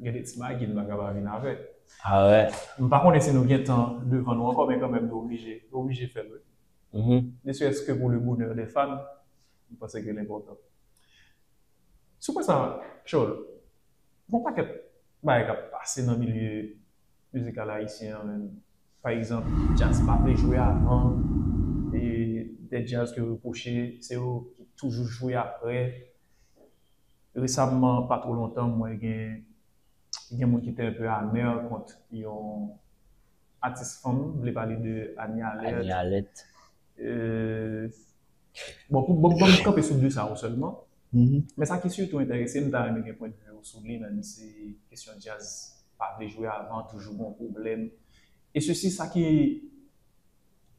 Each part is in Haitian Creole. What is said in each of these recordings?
Gen de ti magi n paka pa vin avèk. Ah wè. M pa konnen si nou gen tan devan nou ankò men kanmèm nou oblije, nou oblije fè l wi. Ne serait-ce que pour le bonheur des femmes, m panse ke l enpòtan. Sou pwen sa, Tchòl, gon pakèt bagay k ap pase nan milye. mizikal ayisyen an menm. Pa egzanp, djaz pa vle jwe avan, e dè djaz ke repwoche se yo ki toujou jwe aprè. Resamman, pa two lontan, m wè gen gen moun ki te enpe amè kont yon atis fanm, m vle pale de Anie Alerte. Bon, pou m kanpe sou 2 sa yo sèlman, men sa ki sitou enterese m, m ta renmen gen pwendvi w sou li, menm si kesyon djaz pa vle jwe avan, toujou gon pwoblèm, e sosi sa ki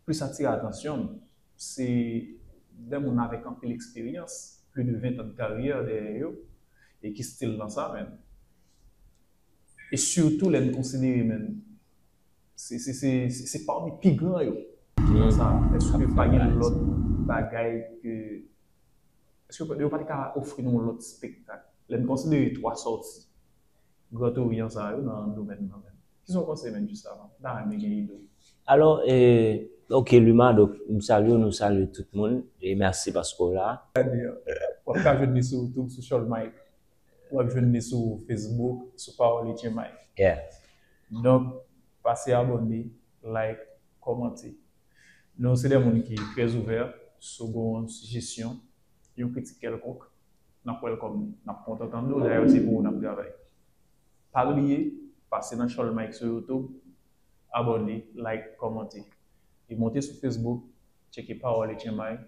plis atire atansyon m, se 2 moun avèk anpil eksperyans, pli de 20 tan de karyè dèyè yo, e ki stil nan sa menm. E sitou lè n konsidere menm. Se pami pi gran yo. Nan sa, èske pa gen lòt bagay ke, èske yo pa te ka ofri nou yon lòt spektak? Lè n konsidere 3 sòti Grand Orient sa yo nan domèn nan menm. Ki sa w panse menm jiskavan? M ta renmen gen ide w. Alò, ok Luma, donk m salye w, nou salye tout moun, e mèsi paske w la. Wap ka jwenn li sou YouTube, sou Cholmayk. Wap jwenn li sou Facebook sou Pawoli Jemay. Donk pase abone, like, kòmante. Nou se de moun ki trè ouvè sou gon sijesyon, yon kritik kèlkonk, nap welcome li. Nap kontan tande w, dayè se pou ou nap travay. Pa bliye pase nan Chòl Mike sou YouTube, abone, like, kòmante. E monte sou Facebook, tcheke Pawoli Jemay.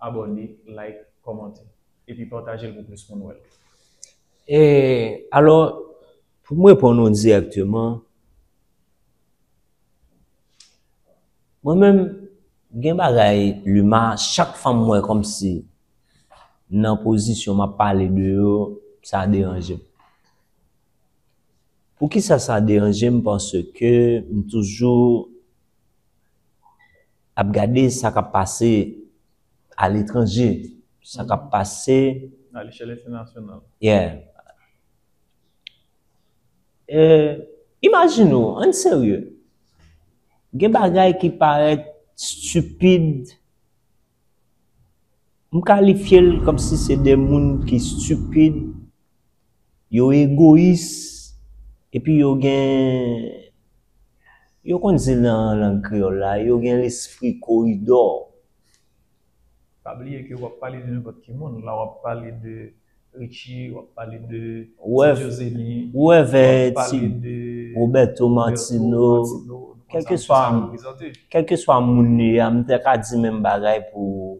abòne, like, kòmante. Epi patajel pou plis moun wèl. E alò pou m reponn ou dirèkteman, mwen menm gen bagay lima chak fwa m wè kòmsi nan pozisyon m ap pale de yo sa deranje m. Poukisa sa deranje m paske m toujou Ap gade sa kap pase a letranje, sa kap pase. A lechèl entènasyonal. Yeah. Imajine w, ann serye, gen bagay ki parèt stipid, m kalifye l kòmsi se de moun ki stipid. Yo egoyis epi yo gen, yo konn di nan lang kreyòl la, yo gen lespri koridò. Pa bliye ke wap pale de nenpòt ki moun la, wap pale de Richie, wap pale de Ti Jozeni, wap pale de Roberto Martino, kèlkeswa moun li a, m ta ka di menm bagay pou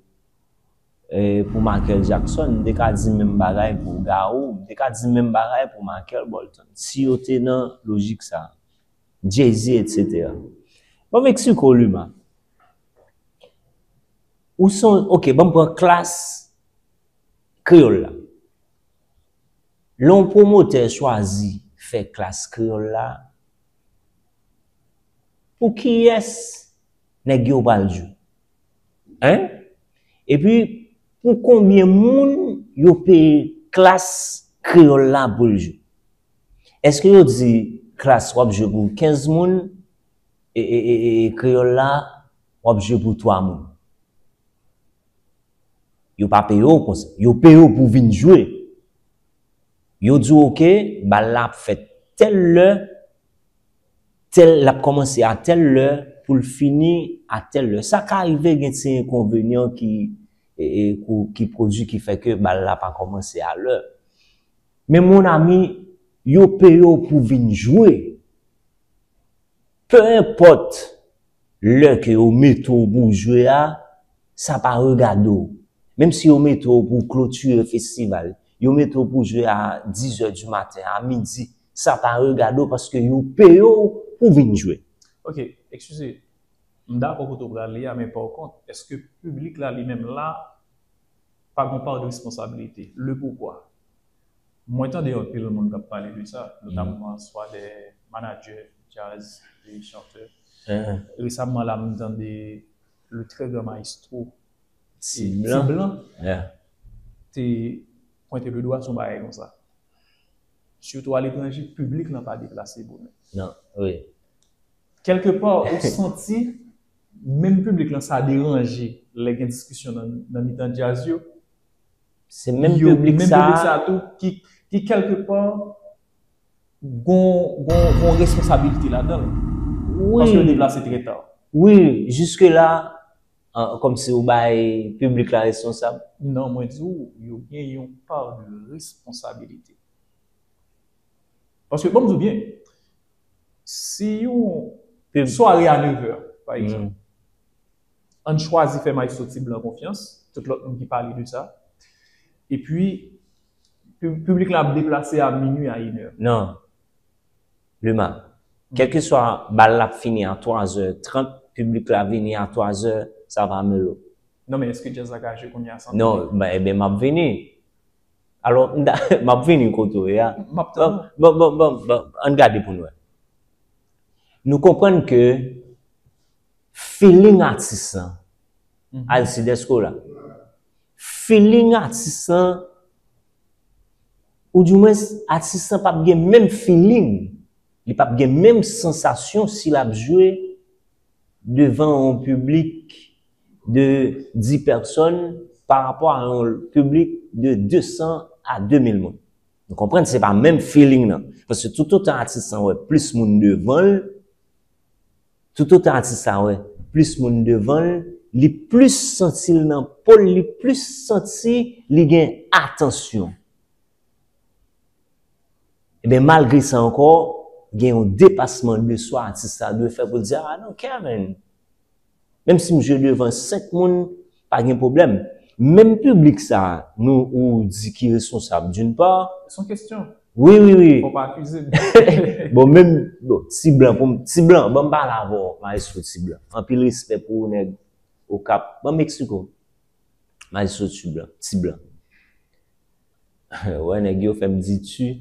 Pou Makel Jakson, m te ka di menm bagay pou Gawou, m te ka di menm bagay pou Makel Bòlton, si yo te nan lojik sa a. Jay-Z etsetera. Bon Mexico Luma, ou son, ok, banm pran klas kreyòl la. Lè yon pwomotè chwazi fè klas kreyòl la, pou kiyès nèg yo pral jwe? Hein? Epi pou konbyen moun yo peye klas kreyòl la pou l jwe? Èske yo di klas w ap jwe pou 15 moun e kreyòl la w ap jwe pou 3 moun? Yo pa peye w konsa. Yo peye w pou w vin jwe. Yo di w ok, bal la ap fèt tèl lè. Tèl l ap kòmanse a tèl lè pou l fini a tèl lè. Sa ka rive gen ti enkonvenyan ki ki pwodui ki fè ke bal la pa kòmanse a lè. Men mon ami, yo peye w pou vin jwe. Pe enpòt lè ke yo mete w pou w jwe a, sa pa regade w. Menm si yo mete w pou w klotire festival, yo mete w pou w jwe a dizè di maten, a midi, Sa pa regade w paske yo peye w pou w vin jwe. Ok, ekskize, m dakò kote w pral li a men pa w kont, eske piblik la li menm la pa gon pa de responsabilite? Le poukwa? Mwen tande yon pil moun k ap pale de sa, notamman swa de manadjè djaz e chantè. Resamman la m tande le trè gran maestro Ti Blan te pwente le dwa sou yon bagay konsa. Sitou aletranje, piblik lan pa deplase bonè. Non, wi. Kèlke pa, ou santi, menm piblik lan sa deranje lè gen diskisyon nan mitan djaz yo. Se menm piblik sa. Menm piblik sa tou ki kèlke pa gon responsabilite ladan l. Wi. Paske yo deplase trè ta. Wi, jiske la, Kòm si ou bay piblik la responsab? Non, mwen di ou, yo gen yon pa de responsabilite. Paske, banm di ou byen, si yon sware a nevè, pa egzanp, an n chwazi fè Maestro T Blan konfyans, tout lòt moun ki pale de sa, epi piblik la ap deplase a minui, a inè. Non. Luma, Kèlkeswa bal la ap fini a 3 zè 30, piblik la vini a 3 zè, sa va Melo? Non men eske djaz la ka jwe kounye a san piblik? Non, ben eben map vini. Alò m ta map vini kote w ye a. Map tann ou. Bon, bon, bon, bon, ann gade pou n wè. Nou konprann ke feeling atis lan, Alcide èske w la? Feeling atis lan Ou di mwens atis lan pap gen menm feeling, li pap gen menm sansasyon si lap jwe devan yon piblik de 10 pèsòn pa rapò a yon piblik de 200 a 2000 moun. Nou konprann se pa menm feeling nan. Paske tout otan atis lan wè plis moun devan l, Toutotan atis la wè plis moun devan l, li plis santi l nan po l, li plis santi li gen atansyon. Enben malgre sa ankò, gen yon depasman de swa atis la dwe fè pou l di, a non Kevin, menm si m jwe devan 5 moun, Pa gen pwoblèm. Menm piblik sa a nou ou di ki responsab d'une part. Son kesyon. Wi wi wi. Fò pa akize m. Bon menm bon ti blan pou m ti blan ban m pale avè w maestro ti blan. Anpil respè pou ou nèg okap. Ban m eksplike w maestro tu blan ti blan. Ou wè nèg yo fè m di tu.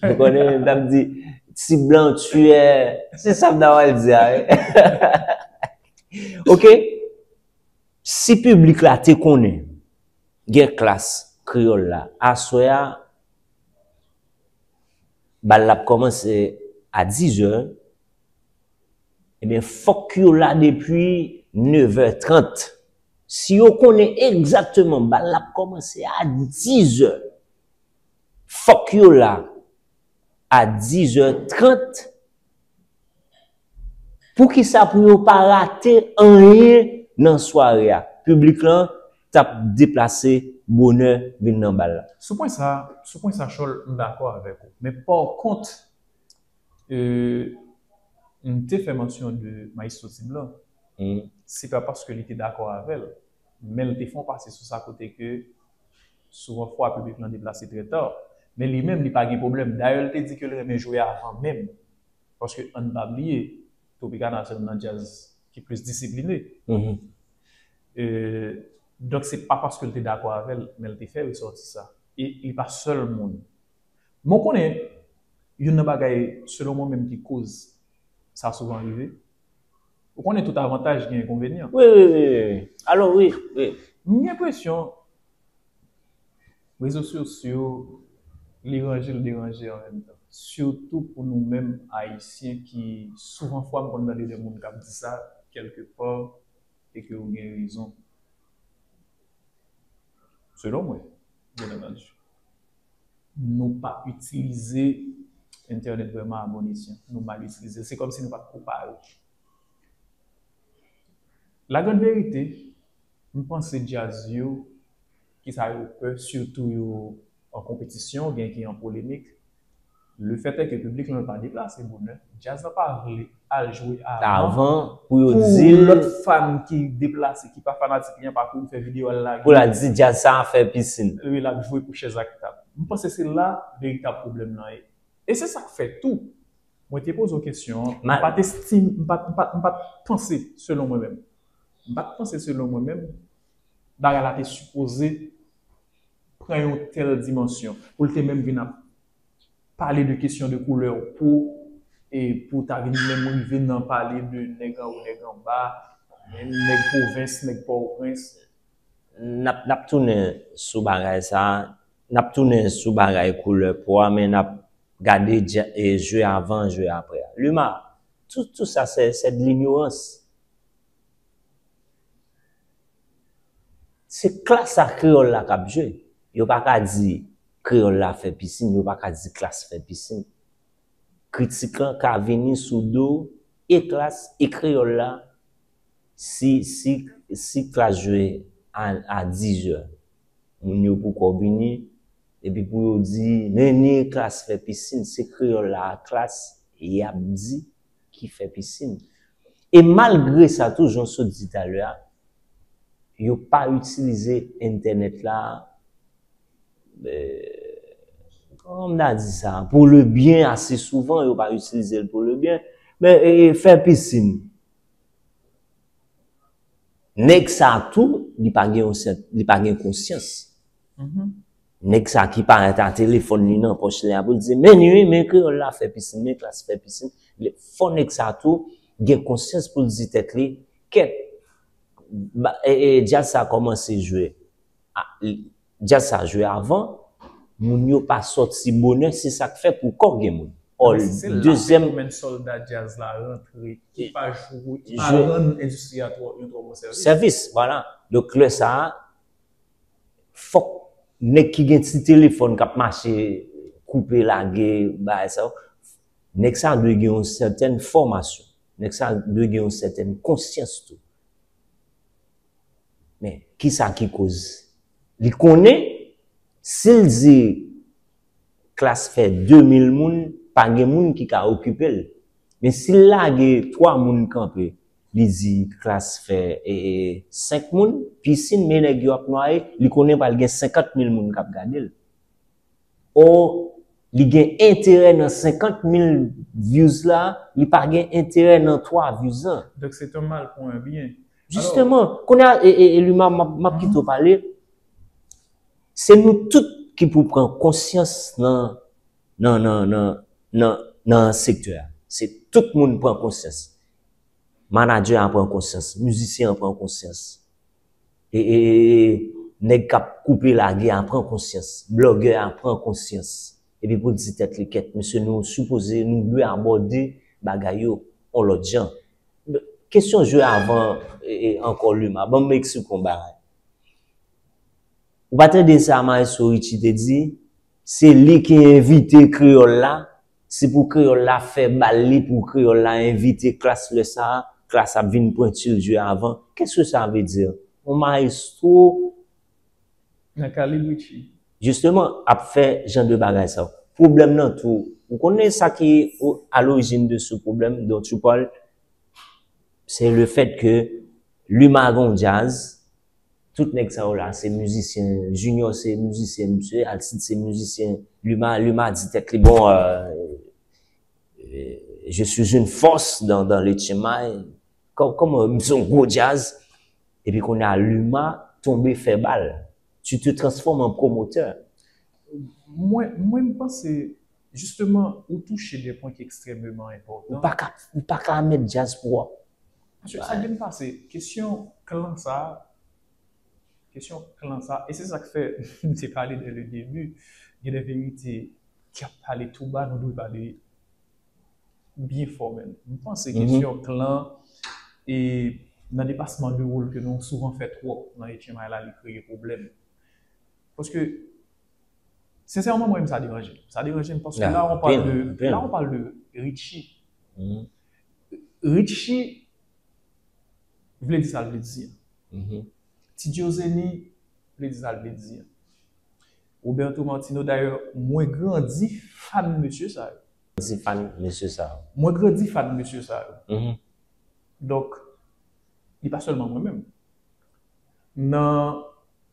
Ou konnen m ta p di ti blan tu è se sa m ta pral di a wi. Ok. Si piblik la te konnen gen klas kreyòl la aswè a, bal la ap kòmanse a dizè, ebyen fòk yo la depi nevè trant. Si yo konnen egzakteman bal la ap kòmanse a dizè, fòk yo la a dizè trant Poukisa pou yo pa rate anyen nan sware a, piblik lan t ap deplase bonè vin nan bal la. Sou pwen sa, sou pwen sa Chòl m dakò avèk ou. Men pòkont m te fè mansyon de Maestro Ti Blan, se pa paske li te dakò avè l, men l te fè yon pase sou sa kote ke souvan fwa piblik lan deplase trè ta. Men li menm li pa gen pwoblèm. Dayè l te di ke l renmen jwe avan menm. Paske ann pa bliye, Tropicana se youn nan djaz ki plis disipline. Donk se pa paske l te dakò avè l, men l te fè resòti sa. E li pa sèl moun. Men w konnen, youn nan bagay selon mwen menm ki koz sa souvan rive, Ou konnen tout avantaj gen enkonvenyan. Wi wi wi wi wi alo wi wi. M gen enpresyon rezo sosyo li ranje li deranje an menm tan. Sitou pou nou menm ayisyen ki souvan fwa m konn tande de moun k ap di sa kèlke pa e ke yo gen rezon selon mwen byenantandi. nou pa itilize entènèt vrèman a bon esyan, nou mal itilize l, se kòmsi nou pa t ko pare. Lagranverite, m panse djaz yo, kisa yo pè sitou yo an konpetisyon, gen ki an polemik, Le fait est que piblik lan pa deplase bonè, djaz lan pa vle al jwe avan pou lòt fan ki deplase ki pa fanatik li an pa kouri fè video al lage pou l al di djaz sa a fè pisin. Wi, l ap jwe pou chèz ak tab. M panse se la veritab pwoblèm lan ye. E se sa k fè tou, mwen te poze w kesyon an, m pa t estime, m pa t panse selon mwen menm, m pa t panse selon mwen menm bagay la te sipoze pran yon tèl dimansyon, pou l te menm vin ap pale de kesyon de koulè po, e pou ta vin menm rive nan pale de nèg anwo nèg anba, nèg pwovens, nèg pòtoprens. N ap, n ap tounen sou bagay sa, n ap tounen sou bagay koulè po a, men n ap gade je avan je aprè a. Luma, tout sa se de linyorans. Se klas la kreyòl la k ap jwe. Yo pa ka di kreyòl la fè pisin, yo pa ka di klas fè pisin. Kritik lan ka vini sou do e klas e kreyòl la si, si, si klas jwe a, a dizè, moun yo poukò vini epi pou yo di, men ni klas fè pisin, se kreyòl la ak klas y ap di. ki fè pisin. E malgre sa tou, jan w sot di talè a, yo pa itilize entènèt la, kòman m ta di sa, pou le byen ase souvan, yo pa itilize l pou le byen. Men, fè pisin. Nèg sa tou, li pa gen yon sèt, li pa gen konsyans. Nèg sa ki parèt a telefòn li nan pòch li a pou l di, men li wi, men kreyòl la fè pisin, men klas fè pisin. Fò nèg sa tou gen konsyans pou l di tèt li, kèt, djaz sa kòmanse jwe, djaz sa jwe avan, moun yo pa sòti bonè, se sa k fè pou kò gen moun. Ol, dezyèm. Se la fenomèn sòlda djaz la rantre ki pa jwe, ki pa rann endistri a twò, yon twò bon sèvis. Sèvis, vwala. Donk lè sa a, fòk nèg ki gen ti telefòn kap mache koupe lage bagay sa yo, nèg sa dwe gen yon sèten fòmasyon, nèg sa dwe gen yon sèten konsyans tou. Men, kisa ki koz? Li konnen, si l di klas fè 2000 moun, pa gen moun ki ka okipe l. Men si l lage 3 moun kanpe, li di klas fè 5 moun, pisin men nèg yo ap nwaye, li konnen pral gen 50 mil moun k ap gade l. Or, li gen enterè nan 50 mil views la, li pa gen enterè nan 3 views an. Donk se ton mal pou 1 byen. Jisteman, kounye a, Luma m ap kite w pale, se nou tout ki pou pran konsyans nan sektè a. Se tout moun pran konsyans. Manadjè a pran konsyans, mizisyen an pran konsyans, e e e e nèg kap koupe lage a pran konsyans, blogè a pran konsyans, epi pou l di tèt li kèt mesye nou sipoze nou dwe abòde bagay yo on lòt jan. Kesyon jwe avan e e ankò Luma, ban m eksplike w on bagay. Ou pa tande sa maestro Richie te di? Se li ki envite kreyòl la Si pou kreyòl la fè bal li pou kreyòl la envite klas lè sa a, klas ap vin pwenti lje avan, qu'est-ce que ça veut dire? On maestro. Nan kalib Richie. Justement, ap fè jan de bagay sa yo. Pwoblèm nan tou, ou konnen sa ki à l'origine de ce problème dont tu parles? C'est le fait que Luma gen yon djaz, Tout nèg sa yo la se mizisyen, Junior se mizisyen misye, Alcide se mizisyen, Luma, Luma di tèt li bon je suis une force dans dans le tchemay, kòman yo, m se yon gwo djaz, epi kounye a Luma tonbe fè bal, tu te transformes en promoteur. Mwen, mwen m panse jisteman ou touche de pwen ki ekstrèmeman enpòtan. Ou pa ka, ou pa ka mèt djaz pou wap. Mesye sa byn pase kesyon klan sa kesyon klan sa e se sak fè m te pale dè le debi gen dè verite ki ap pale tou ba nou dwe pale byen fò menm m panse kesyon klan e nan depasman de wol ke nou souvan fè twòp nan etchenmay la li kreye pwoblèm paske sensèman mwen menm sa deranje m sa deranje m paske la on pale de la on pale de Richie Richy vle di sal vle di an. Ti Diozeni vle di sal vle di an. Roberto Martino dayè mwen grandi fan mesye sa yo. Grandi fan mesye sa yo. Mwen grandi fan mesye sa yo. Donk li pa sèlman mwen menm. Nan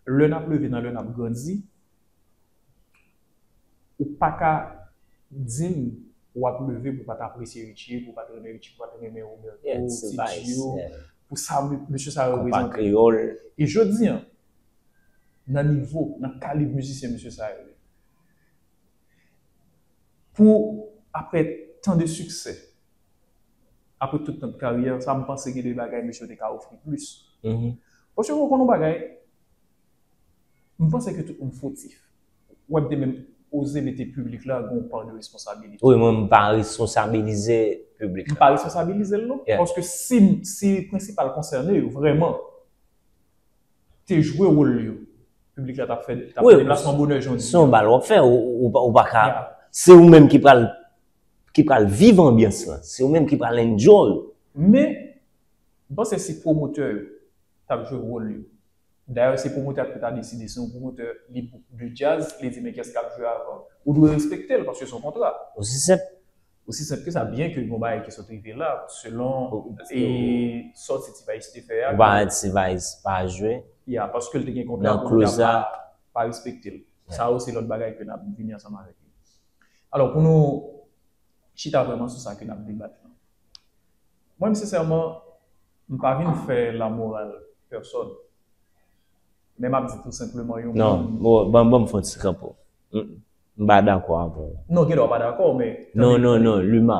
lè nap leve nan lè nap grandi Ou pa ka di m w ap leve pou w pa t apresye Richie, pou w pa t renmen Richie, pou w pa t renmen Roberto, Ti Gio, pou sa mesye sa yo reprezante. E jodi an, nan nivo, nan kalib mizisyen mesye sa yo ye, pou aprè tan de siksè, aprè tout tan de karyè, sa m panse gen de bagay mesye yo te ka ofri plis. Paske ou konn yon bagay? M panse ke tout moun fotif. Ou wè m te menm oze mete piblik la gen yon pa de responsabilite. Wi mwen m pa responsabilize piblik la. M pa responsabilize l non. Paske si si prensipal konsène yo vrèman te jwe wol yo, piblik la t ap fè t ap fè deplasman bonè jan w di. Se yon bal w ap fè. Ou pa ka Se ou menm ki pral ki pral viv anbyans lan. Se ou menm ki pral enjoy. Men, m panse si pwomotè yo t ap jwe wol yo. Dayè se pwomotè a ki pou ta deside si yon pwomotè li pou de djaz li di men kiyès kap jwe avan. Ou dwe respekte l paske se yon kontra. Osi senp. Osi senp ke sa byen ke gon bagay ki sot rive la selon e sòti T-vice te fè a. Ou pa wè T-vice pa jwe. Ya paske l te gen kontra pwomotè a pa respekte l. Sa yo se lòt bagay ke nap vini ansanm avèk yo. Alò pou nou chita vrèman sou sa ke nap debat lan. Mwen sincèrement m pa vin fè la morale personne men map di tout simplement yon moun. Non banm fon ti kanpo m pa dakò avè w. Non gen lè w pa dakò men. Non non non Luma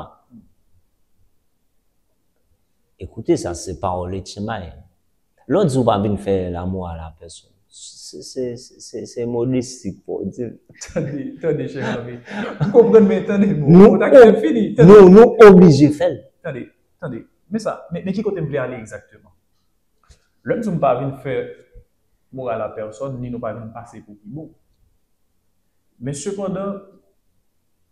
ekoute sa se pawòl Etchenmay. Lè w di ou pa vin fè lamou a la pèsonn, se modesti k fè w di l. Tande, tande chè zanmi. M konprann men tande bon, bon ta kite m fini. Tande. Nou, nou oblije fè l. Tande, tande. Men sa, men ki kote m vle ale egzakteman. Lè m di w m pa vin fè moral a pèsonn ni nou pa vin pase pou pi bon. Men sepandan,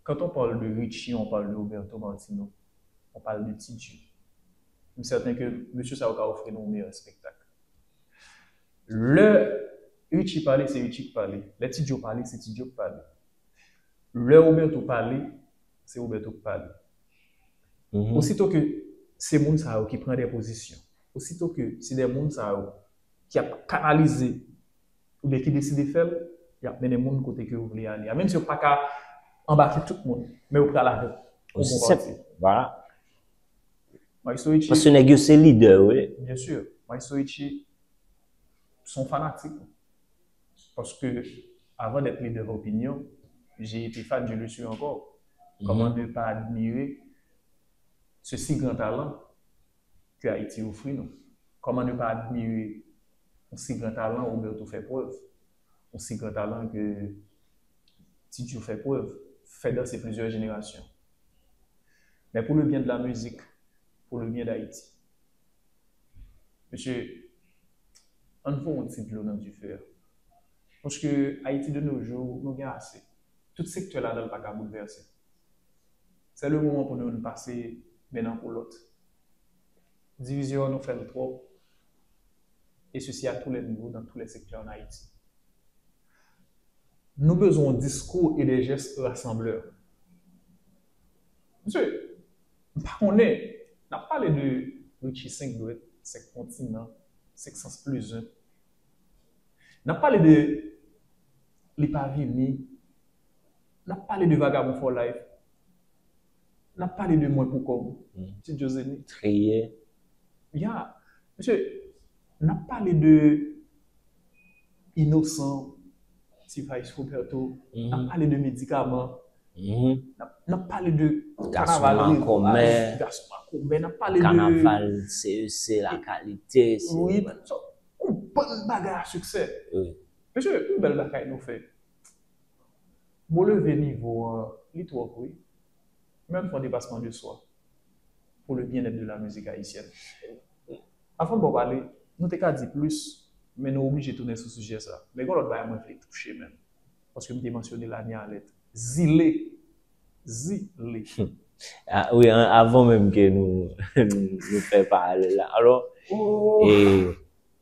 quand on parle de Richie, on parle de Roberto Martino, on parle de Ti Dye. M sèten ke mesye sa yo ka ofri nou meyè espektak. Lè Richie pale, se Richie k pale. Lè Ti Djo pale, se Ti Djo k pale. Lè Roberto pale, se Roberto k pale. Osito ke se moun sa yo ki pran de pozisyon, osito ke se de moun sa yo ki ap kanalize oubyen ki deside fè l, y ap mennen moun kote ke yo vle ale a. Menm si yo pa ka anbake tout moun, men yo pral avèk yon bon pati. Maestro Richie. Paske nèg yo se lidè yo ye. Bien sûr. Maestro Richie son fanatik ou. Paske avan dèt lidè d'opinion, j'ai été fan, je le suis encore. Kòman ne pas admirer ce si grand talent que Haïti offrit nous? Kòman ne pas admirer yon si gran talan Roberto fè prèv? Yon si gran talan ke Ti Djo fè prèv? Fè danse plizyè jenerasyon. Men pou le byen de la mizik, pou le byen d'Ayiti. Mesye, ann fon yon ti dlo nan dife a. Paske Ayiti de no jou, nou gen ase. Tout sektè ladan l pa ka boulvèse. Se le moman pou nou ann pase men nan kou lòt. Divizyon an nou fè l twòp, e sesi a tou lè nivo, nan tou lè sektè an Ayiti. Nou bezwen yon diskou e de jès rasanblè. Mesye, m pa konnen, n ap pale de Richie Senk Dwèt, Senk Kontinan, Senk Sans Plizen. N ap pale de Li pa vini. N ap pale de Vagabon for Life. Lap pale de mwen pou kob. Ti joseni. Triyè. Ya. Mesye. Nap pale de. Inosan. Ti vice roberto. Nap pale de medikaman. Nap pale de. Gason an komè. Gason an komè. Nap pale de. Kanaval CEC la kalite. Ou bann bagay a siksè. Mesye. Ou bel bagay nou fe. Bon leve nivo an li trop wi. Men l fon depasman de swa pou le byenèt de la mizik ayisyèn. Avan baw pale, nou te ka di plis men nou oblije tounen sou sijè sa. Men gon lòt bagay mwen vle touche menm paske m te mansyone l ane alèt. Zile! Zile! A wi avan menm ke nou fè paralèl la. Alò,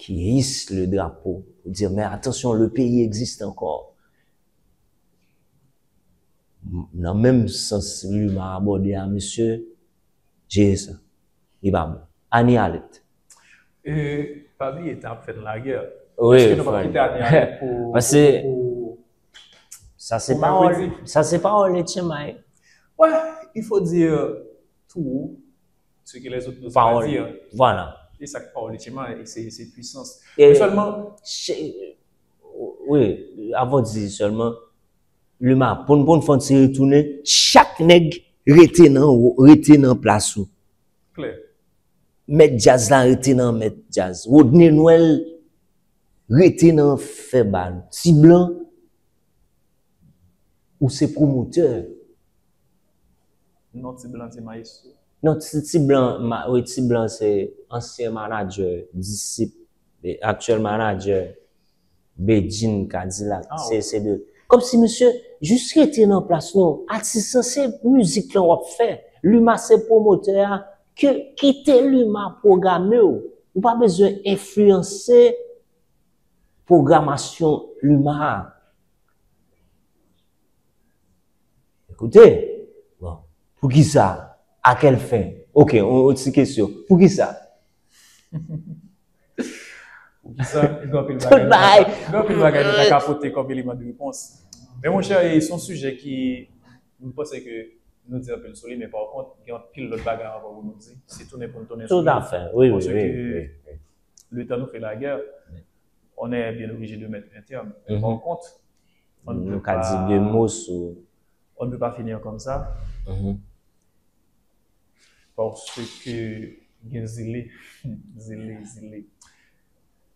ki his le drapo pou di men atansyon le peyi egziste ankò. Nan menm sans Luma abòde a mesye, jere sa. Li pa bon. Anie Alerte. E pa bliye tan ap fè n lagè. Wi frè. Èske nou pa kite Anie Alerte pou Pase Sa pawòl Sa se pawòl Etienne Maillet. Wè, il faut dire tou. Ce que les autres n'osent pas dire. Pawòl li, vwala. E sa k pawòl li Chema, e se, se pwisans. Men sèlman. Che, wi, avan w di sèlman, Luma, pou n, pou n fè yon ti retounen, chak nèg rete nan w, rete nan plas ou. Klè. Mèt djaz la rete nan mèt djaz. Rodney Noël rete nan fè bal. Ti Blan, ou se pwomotè. Non ti blan se maestro. Non ti blan wi ti blan se ansyen manager disip aktyèl manager Bedjine kadilak se de kòmsi misye jis rete nan plas nou atis lan se mizik lan wap fè luma se pwomotè a ke kite luma pwogamew ou pa bezwen enfliyanse pwogramasyon luma a. Ekoute, bon, poukisa? A kèl fen? Ok, yon ti kesyon, poukisa? Poukisa? Gen anpil bagay, gen anpil bagay nou ta ka pote kòm eleman de repons. Men monchè, se yon sijè ki, m panse ke nou di anpil sou li, men pa kont, gen anpil lòt bagay ankò pou nou di. Se tounen pou nou tounen sou li. Toutafè, wi, wi, wi, wi. Paske, letan nou fè lagè, on è byen oblije de mèt un terme. Men pa kont, On ne peut pas dire deux mots sur. On ne peut pas finir comme ça. Mm -hmm. Parce que gen zile, zile, zile.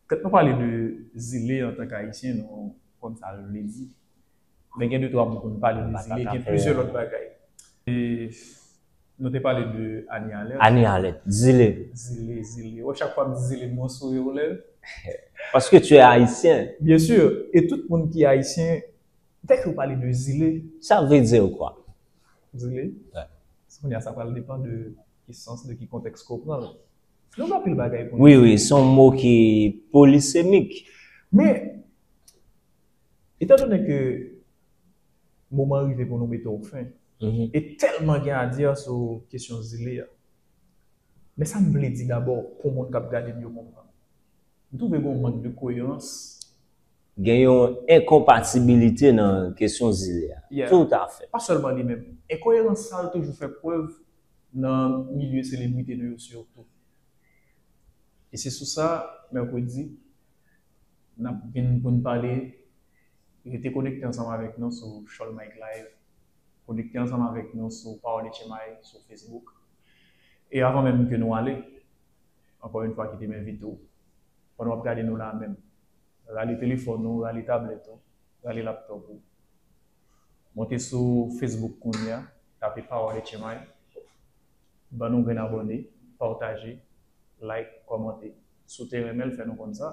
Kèt nou pale de zile an tank ayisyen nou konn sa l vle di. Men gen de twa mou pou nou pale de zile, gen plizyè lòt bagay. E Nou te pale de Annie Alerte. Annie Alerte, Zile. Zile, Zile. Wè chak fwa m di Zile m wè w souri w lève. Paske tu es Haïtien. Bien sûr. E tout moun ki Ayisyen, dèke yo pale de Zile. Sa vle di w kwa? Zile? Wè. Se kounye a sa pral depan de ki sans, de ki kontèks ke w pran l. Nou gen anpil bagay pou n di. Wi, wi. Se yon mo ki polisemik. Men, etan done ke moman rive pou nou mete w fen, e tèlman gen a dire sou kesyon zile a. Men sa m vle di dabò pou moun k ap gade m yo konprann. M twouve gen yon mank de koyerans. Gen yon enkonpatibilite nan kesyon zile a. Toutafè. Pa sèlman li menm. Enkoyerans sa yo toujou fè prèv nan milye selebrite nou yo sitou. E se sou sa, mèkredi, n ap vin pou n pale Rete konekte ansanm avèk nou sou Cholmike Live, konekte ansanm avèk nou sou Pawòl Etchemay sou Facebook. E avan menm ke nou ale, ankò yon fwa kite m envite w, pandan w ap gade nou la menm, rale telefòn ou, rale tablèt ou, rale laptòp ou, monte sou Facebook kounye a, tape Pawòl Etchemay, ban nou grenn abòne, pataje, like, kòmante. Si w te renmen l, fè nou konn sa.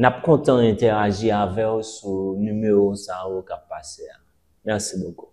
Nap kontan entèaji avèw sou nimewo sa yo kap pase a. Merci beaucoup.